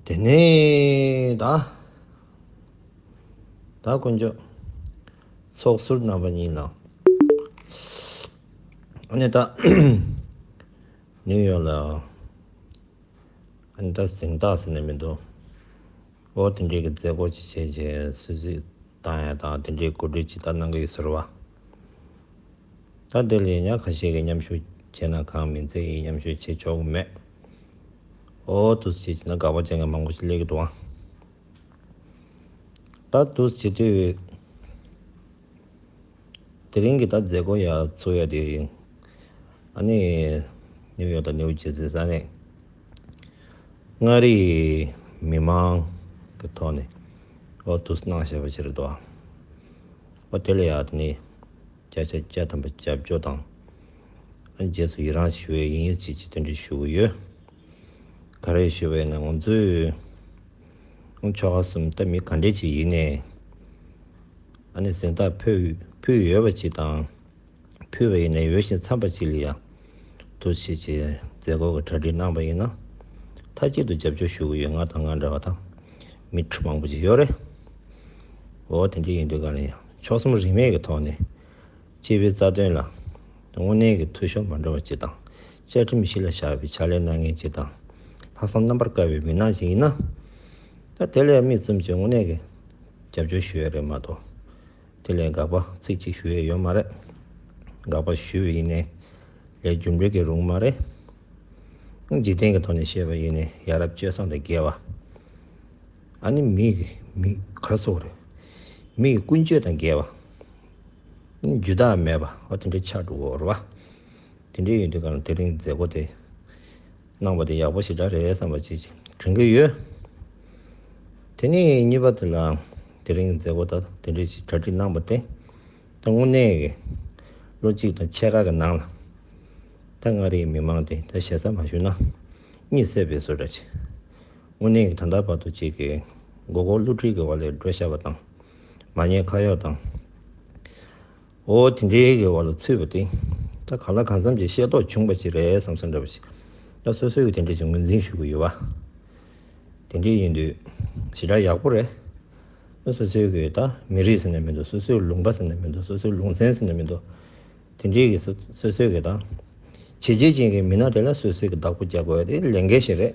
དེ་ནས་བདག། བདག་དཀོན་མཆོག། ཚོགས་ཟུར་རྣམ་པ་གཉིས་ལ། ཨཱ་ནནྟ། ནིའུ་ཡོག་ལ། ཨཱ་ནནྟ་གཟེངས་རྟགས་ཟེར་ནས་མི་འདུག་ཨོ་དེ་འདྲའི་གི་མཛད་སྒོ་ཅིག་བྱེད་ཅེས་སུད་སི་བཏང་ཡ་དང་དེ་འདྲའི་གོ་སྒྲིག་ཇི་ལྟར་གནང་གི་ཡོད་ཟེར་བ། ད་དེ་ལས་ཉག་ག་ཤས་ཀྱི་མཉམ་ཞུགས་བྱས་ན་གང་མི་མཛད་ཀྱི་མཉམ་ཞུགས་བྱེད་ཆོག་གི་མེད། ཨོ་ཏུ་སི་ཅི་ན་དགའ་བ་ཅན་གྱི་མང་པོ་ཞིག་ལས་ཀྱི་དུ་བ། ད་ཏུ་སི་ཏུ། དེ་རིང་གི་ད་མཛད་སྒོ་ཡ་ཚོ་ཡ་དེ་ཡིན། ཨ་ནི་ནིའུ་ཡོག་དང་ནིའུ་ཇི་སི་ས་གནས་མངའ་རིས་མི་མང་གི་ཐོག་ནས་ཨོ་ཏུ་སི་ནང་བཞེས་པ་ཞིག་རེད་དོ། ཨོ་དེ་ལ་ཡ་དེ་ནི་སྐྱ་ཆ་སྐྱ་ཐམ་པ་སྐྱབས་འཇོག་དང། རྗེས་སུ་ཡི་རངས་ཞུ་བའི་དབྱིན་ཡིག་བཅས་ཀྱི་སྟོན་བསྒྲིགས་ཞུ་གི་ཡོད། ག་རེ་ཞུ་བའི་ངང་ཚུལ། ཆོ་ག་གསུམ་ལྟ་མི་ག་འདྲས་ཀྱི་ཡུལ་ནས་ཨ་ནེ་གཟེངས་རྟགས་ཕུལ་ཡོད་པ་ཅིག་དང། ཕུལ་བའི་ཡུལ་ནས་ཡོད་བཞིན་འཚམས་པ་ཅིག་ལ་ཡང་དུ་ཕྱིན་ཆེད་མཛད་སྒོ་གི་གྲ་སྒྲིག་གནང་པ་ཡིན་ན། མཐའ་གཅིག་ཏུ་རྒྱབ་སྐྱོར་ཞུ་གི་ཡོད་ང་དང་ང་འདྲ་བ་དང་མི་ཁྲི་མང་པོ་ཅིག་ཡོད་རེད། འོ་དེ་འདྲ་ཡིན་དུས་ག་ལ་ཡིན་ཕྱོགས་གསུམ་རིས་མེད་ཀྱི་ཐོག་ནས། སྤྱི་པའི་རྩ་དོན་ལ་དངོས་གནས་ཀྱི་འཐུས་ཤོར་མ་འགྲོ་བ་བཅས་དང། བཅའ་ཁྲིམས་གཞི་ལ་བཞག་པའི་ཕྱག་ལས་གནང་མཁན་བཅས་དང། ལྷག་བསམ་རྣམ་པར་དཀར་བའི་མི་སྣ་ཞིག་ཡིན་ན། ད་དེ་ལས་དམིགས་བཙུམ་གྱིས་དངོས་གནས་ཀྱི་རྒྱབ་སྐྱོར་ཞུ་ཡས་རེད་མ་གཏོགས། དེ་ལས་དགག་པ་ཚིག་གཅིག་ཞུ་ཡས་ཡོད་མ་རེད། དགག་པ་ཞུས་པ་ཡིན་ནས་ལས་རྒྱུ་འབྲས་ཀྱི་རུང་མ་རེད། འཇིག་རྟེན་གྱི་ཐོག་ནས་བཤད་པ་ཡིན་ནས་ཡ་རབས་སྤྱོད་བཟང་དང་འགལ་བ། ཨ་ནི་མི་ཡི་མི་གར་སོགས་རེད། མི་ཡི་ཀུན་སྤྱོད་དང་འགལ་བ། རྒྱུ་བདག་མེད་པ་ཨོ་དེ་འདྲའི་ཆ་འགྲོ་བོར་བ། དེ་འདྲའི་ཡོད་དུས་གང་ལ་དེ་རིང་མཛད་སྒོ་དེ་གནང་བ་དེ་ཡག་པོ་ཞིག་འདྲ་རེད་བསམ་པ་ཅིག་དྲན་གྱི་ཡོད། དེ་ནས་གཉིས་པ་དེ་ལའང་དེ་རིང་མཛད་སྒོ་ད་དེ་འདྲ་ཞིག་གྲ་སྒྲིག་གནང་བ་དེ་ད་དངོས་གནས་ཀྱི་ལོ་གཅིག་དང་ཕྱེད་ཀ་གི་ནང་ལ་ད་མངའ་རིས་མི་མང་དེ་ད་ཞེ་ས་མ་ཞུ་ན་གཉིད་སད་པའི་བཟོ་འདྲ་བྱེད། དངོས་གནས་ཀྱི་ད་ལྟ་བར་དུ་ཅིག་གི་མགོ་སྐོར་བསླུ་བྲིད་ཀྱི་བར་ལས་འགྲོ་ཤར་བ་དང་མ་ཉེས་ཁ་གཡོག་དང། ཨོ་དེ་འདྲའི་གི་བར་ལ་ཚུད་པ་དེ། ད་གང་ལ་གང་འཚམ་གྱི་ཤེས་རྟོགས་བྱུང་བ་ཞིག་རེད་བསམ་བསམ་འདྲ་བ་ཞིག། ད་སོ་སོས་གི་དེ་འདྲ་ཞིག་ངོས་འཛིན་ཞུ་གི་ཡོད་བ། དེ་འདྲ་ཡིན་དུས་ཞེ་དྲག་ཡག་པོ་རེད། ད་སོ་སོས་གི་ད་མི་རིགས་ཟེར་ནས་མི་འདུག་སོ་སོའི་ལུང་པ་ཟེར་ནས་མི་འདུག་སོ་སོའི་ལུང་ཚན་ཟེར་ནས་མི་འདུག་དེ་འདྲའི་གི་སོ་སོས་གི་ད། བྱས་རྗེས་ཅན་གྱི་མི་སྣ་དེ་ལ་སོ་སོས་གི་བདག་པོ་རྒྱག་དགོས་དེ་ལས་འགལ་ཞིག་རེད།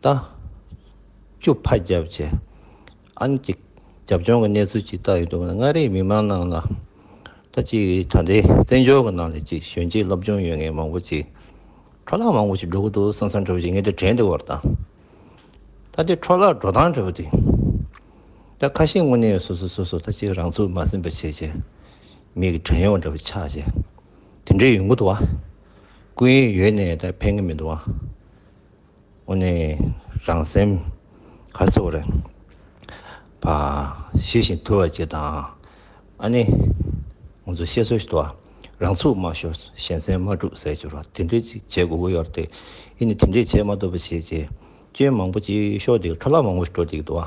ལྟ། བཅུ་ཕ་རྒྱ་བཅས་ཨ་ནི་གཅིག་རྒྱབ་ལྗོངས་ཀྱི་གནས་ཚུལ་ཇི་ལྟར་ཡོད་འདུག་མངའ་རིས་མི་མང་རྣམས་ལ་ལྟ། གཅིག་ད་ལྟའི་བཙན་བྱོལ་གྱི་ནང་ལས་ཀྱི་གཞོན་སྐྱེས་སློབ་སྦྱོང་ཡོད་མཁན་མང་པོ་ཅིག་འཕྲོ་བརླག་མང་པོ་ཞིག་འགྲོ་གི་འདུག་སང་སང་འཕྲོ་བ་ཞིག་ངེས་དུ་དྲན་འདི་བར་དང། ད་ལྟའི་འཕྲོ་བརླག་འགྲོ་སྟངས་འཕྲོས་པ་འདི་ལྟར་ཁ་ཞེ་དངོས་གནས་སོ་སོ་སོ་སོ་ལྟ་ཅི་རང་ཚུགས་མ་ཟིན་པ་བྱས་རྗེས་མིག་གི་བྲན་གཡོག་འདྲ་བོ་ཆགས་རྗེས་དེ་འདྲའི་ཡོད་མགོ་འདུག་བ། ཀུན་ཡོད་ནས་ད་ཕན་གི་མི་འདུག་བ། འོ་ནི་རང་སེམས་ག་ཚོད་བ་རེད། བ་ཤེས་བཞིན་དུལ་བ་ཅིག་དང། ཨ་ནི། ང་ཚོ་བཤད་སྲོལ་ལྟར་རང་ཚུགས་མ་ཤོར་གཞན་སེམས་མ་དཀྲུགས་ཟེར་རྒྱུར་དེ་འདྲ་ཅིག་བྱེད་དགོས་ཀྱི་ཡོད་རེད། ཨི་ནི་དེ་འདྲ་བྱེད་མ་ཐུབ་པ་བྱས་རྗེས་སྐྱོན་མང་པོ་ཅིག་ཤོར་འདུག་འཕྲོ་བརླག་མང་པོ་ཞིག་འགྲོ་འདུག་གི་འདུག་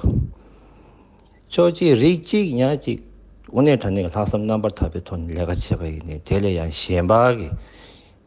ཆོག་གཅིག་རིགས་གཅིག་ཉག་གཅིག་དབུ་ནི་དྲ་གནས་ཀྱི་ལྷག་བསམ་རྣམ་པར་དག་པའི་ཐོག་ནས་ལས་ཀ་བྱེད་པ་ཡིན་ནི་དེ་ལས་ཡང་གཞན་པ་གི།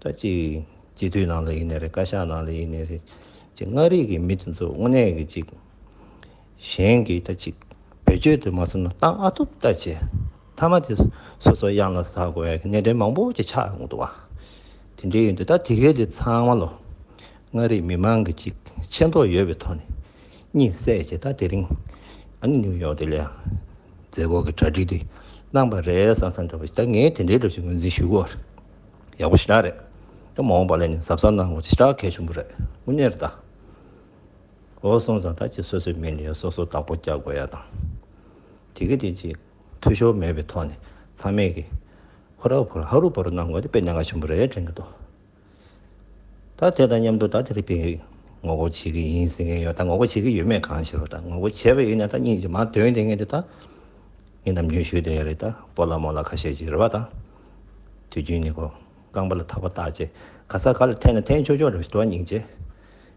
ད་ཅི། སྤྱི་འཐུས་ནང་ལ་ཡིན་ནི་རེད་བཀའ་ཤག་ནང་ལ་ཡིན་ནི་རེད། ཅི་མངའ་རིས་ཀྱི་མི་དེ་ཚོ་དངོས་གནས་ཀྱི་ཅིག། གཞན་གྱི་ད་ཅིག་བེད་སྤྱོད་དུ་མ་བཟུང་ན་ཏང་ཨ་ཐུབ་ལྟ་བྱེད་མཐའ་མ་དེ་སོ་སོ་གཡང་ལ་ཟགས་དགོས་པའི་གནད་དོན་མང་པོ་ཅིག་ཆགས་འདུག་བ། དེ་འདྲའི་ཡོད་འདུག་ད་དེ་གས་དེ་ཚང་མ་ལོ་མངའ་རིས་མི་མང་གི་ཅིག་ཆེ་མདོག་ཡོད་པའི་ཐོག་ནས། གཉིད་སད་བྱས་ད་དེ་རིང་ཨང་ཉུལ་ཡོང་དེ་ལས་རྫས་སྒོར་གྱི་གྲ་སྒྲིག་དེ་གནང་པ་རེད་བསམ་བསམ་འདྲ་བོ་ཞིག་ད་ངས་དེ་འདྲའི་འདྲ་བཞིན་ངོས་འཛིན་ཞུས་སྒོར་ཡག་པོ་ཞེ་དྲག་རེད་ད་མ་འོངས་པ་ལས་ནས་གཟབ་གཟབ་གནང་དགོས་ཞེ་དྲག་གལ་ཆེན་པོ་རེད་དངོས་གནས་རེད་ད། ཨོ་སོང་ཙང་ད་ཅིག་སོ་སོའི་མི་ལས་སོ་སོ་བདག་པོ་རྒྱག་དགོས་ཡ་དང་དེ་གི་དེ་ཅིག་འཐུས་ཤོར་མེད་པའི་ཐོག་ནས་ཚང་མས་ཀྱི་ཧོ་ར་ཧོ་ར་ཧ་རུ་ཧ་རུ་གནང་དགོས་དེ་དཔེ་གནད་འགག་ཆེན་པོ་རེད་དྲན་གི་འདུག། ད་དེ་དང་མཉམ་དུ་ད་དེ་རིག་པའི་ངོ་རྒོལ་བྱེད་ཀྱི་ཡིན་ཟེར་མཁན་ཡོད་ད་ངོ་རྒོལ་བྱེད་ཀྱི་ཡོད་མེད་གང་ཤེས་པ་ད་ངོ་རྒོལ་བྱས་པ་ཡིན་ན་ད་གཉིས་ཀྱི་མ་དོན་དེ་ངེས་ཏེ་ད་ངས་ནམ་རྒྱུན་ཞུས་དེ་ཡ་རེད་ད་སྤོ་ལ་མོ་ལ་ཁ་ཤས་ཀྱི་རེད་བ་ད་དུས་རྒྱུན་ནས་གོ་རྐང་པ་ལ་ཐག་པ་བཏགས་རྗེས་ག་ས་ག་ལ་འཐེན་ན་འཐེན་ཆོག་ཆོག་རེད་བ་ད་ཉིན་རྗེས་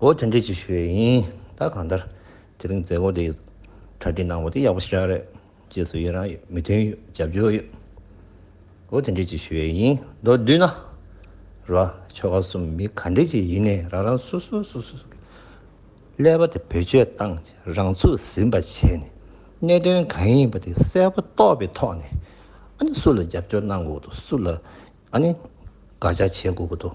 འོ་དེ་འདྲས་ཅིག་ཞུ་ཡས་ཡིན་ད་གང་ལྟར་དེ་རིང་མཛད་སྒོ་དེ་གྲ་སྒྲིག་གནང་བ་དེ་ཡག་པོ་ཞིག་རག་རེད་རྗེས་སུ་ཡི་རང་ཡོད་མོས་མཐུན་ཡོད་རྒྱབ་སྐྱོར་ཡོད་འོ་དེ་འདྲས་ཅིག་ཞུ་ཡས་ཡིན་མདོར་བསྡུས་ན་ར་ཆོ་ག་གསུམ་མི་ག་འདྲས་ཅིག་ཡིན་ནས་རང་རང་སོ་སོ་སོ་སོ་གི་ཀླད་པ་དེ་བེད་སྤྱོད་བཏང་རང་ཚུགས་ཟིན་པ་བྱས་ནས་གནད་དོན་གང་ཡིན་པ་དེ་གསལ་པོ་རྟོགས་པའི་ཐོག་ནས་ཨ་ནི་སུ་ལ་རྒྱབ་སྐྱོར་གནང་དགོས་ཀྱི་འདུག་སུ་ལ་ཨ་ནི་དགག་བྱ་བྱེད་དགོས་ཀྱི་འདུག།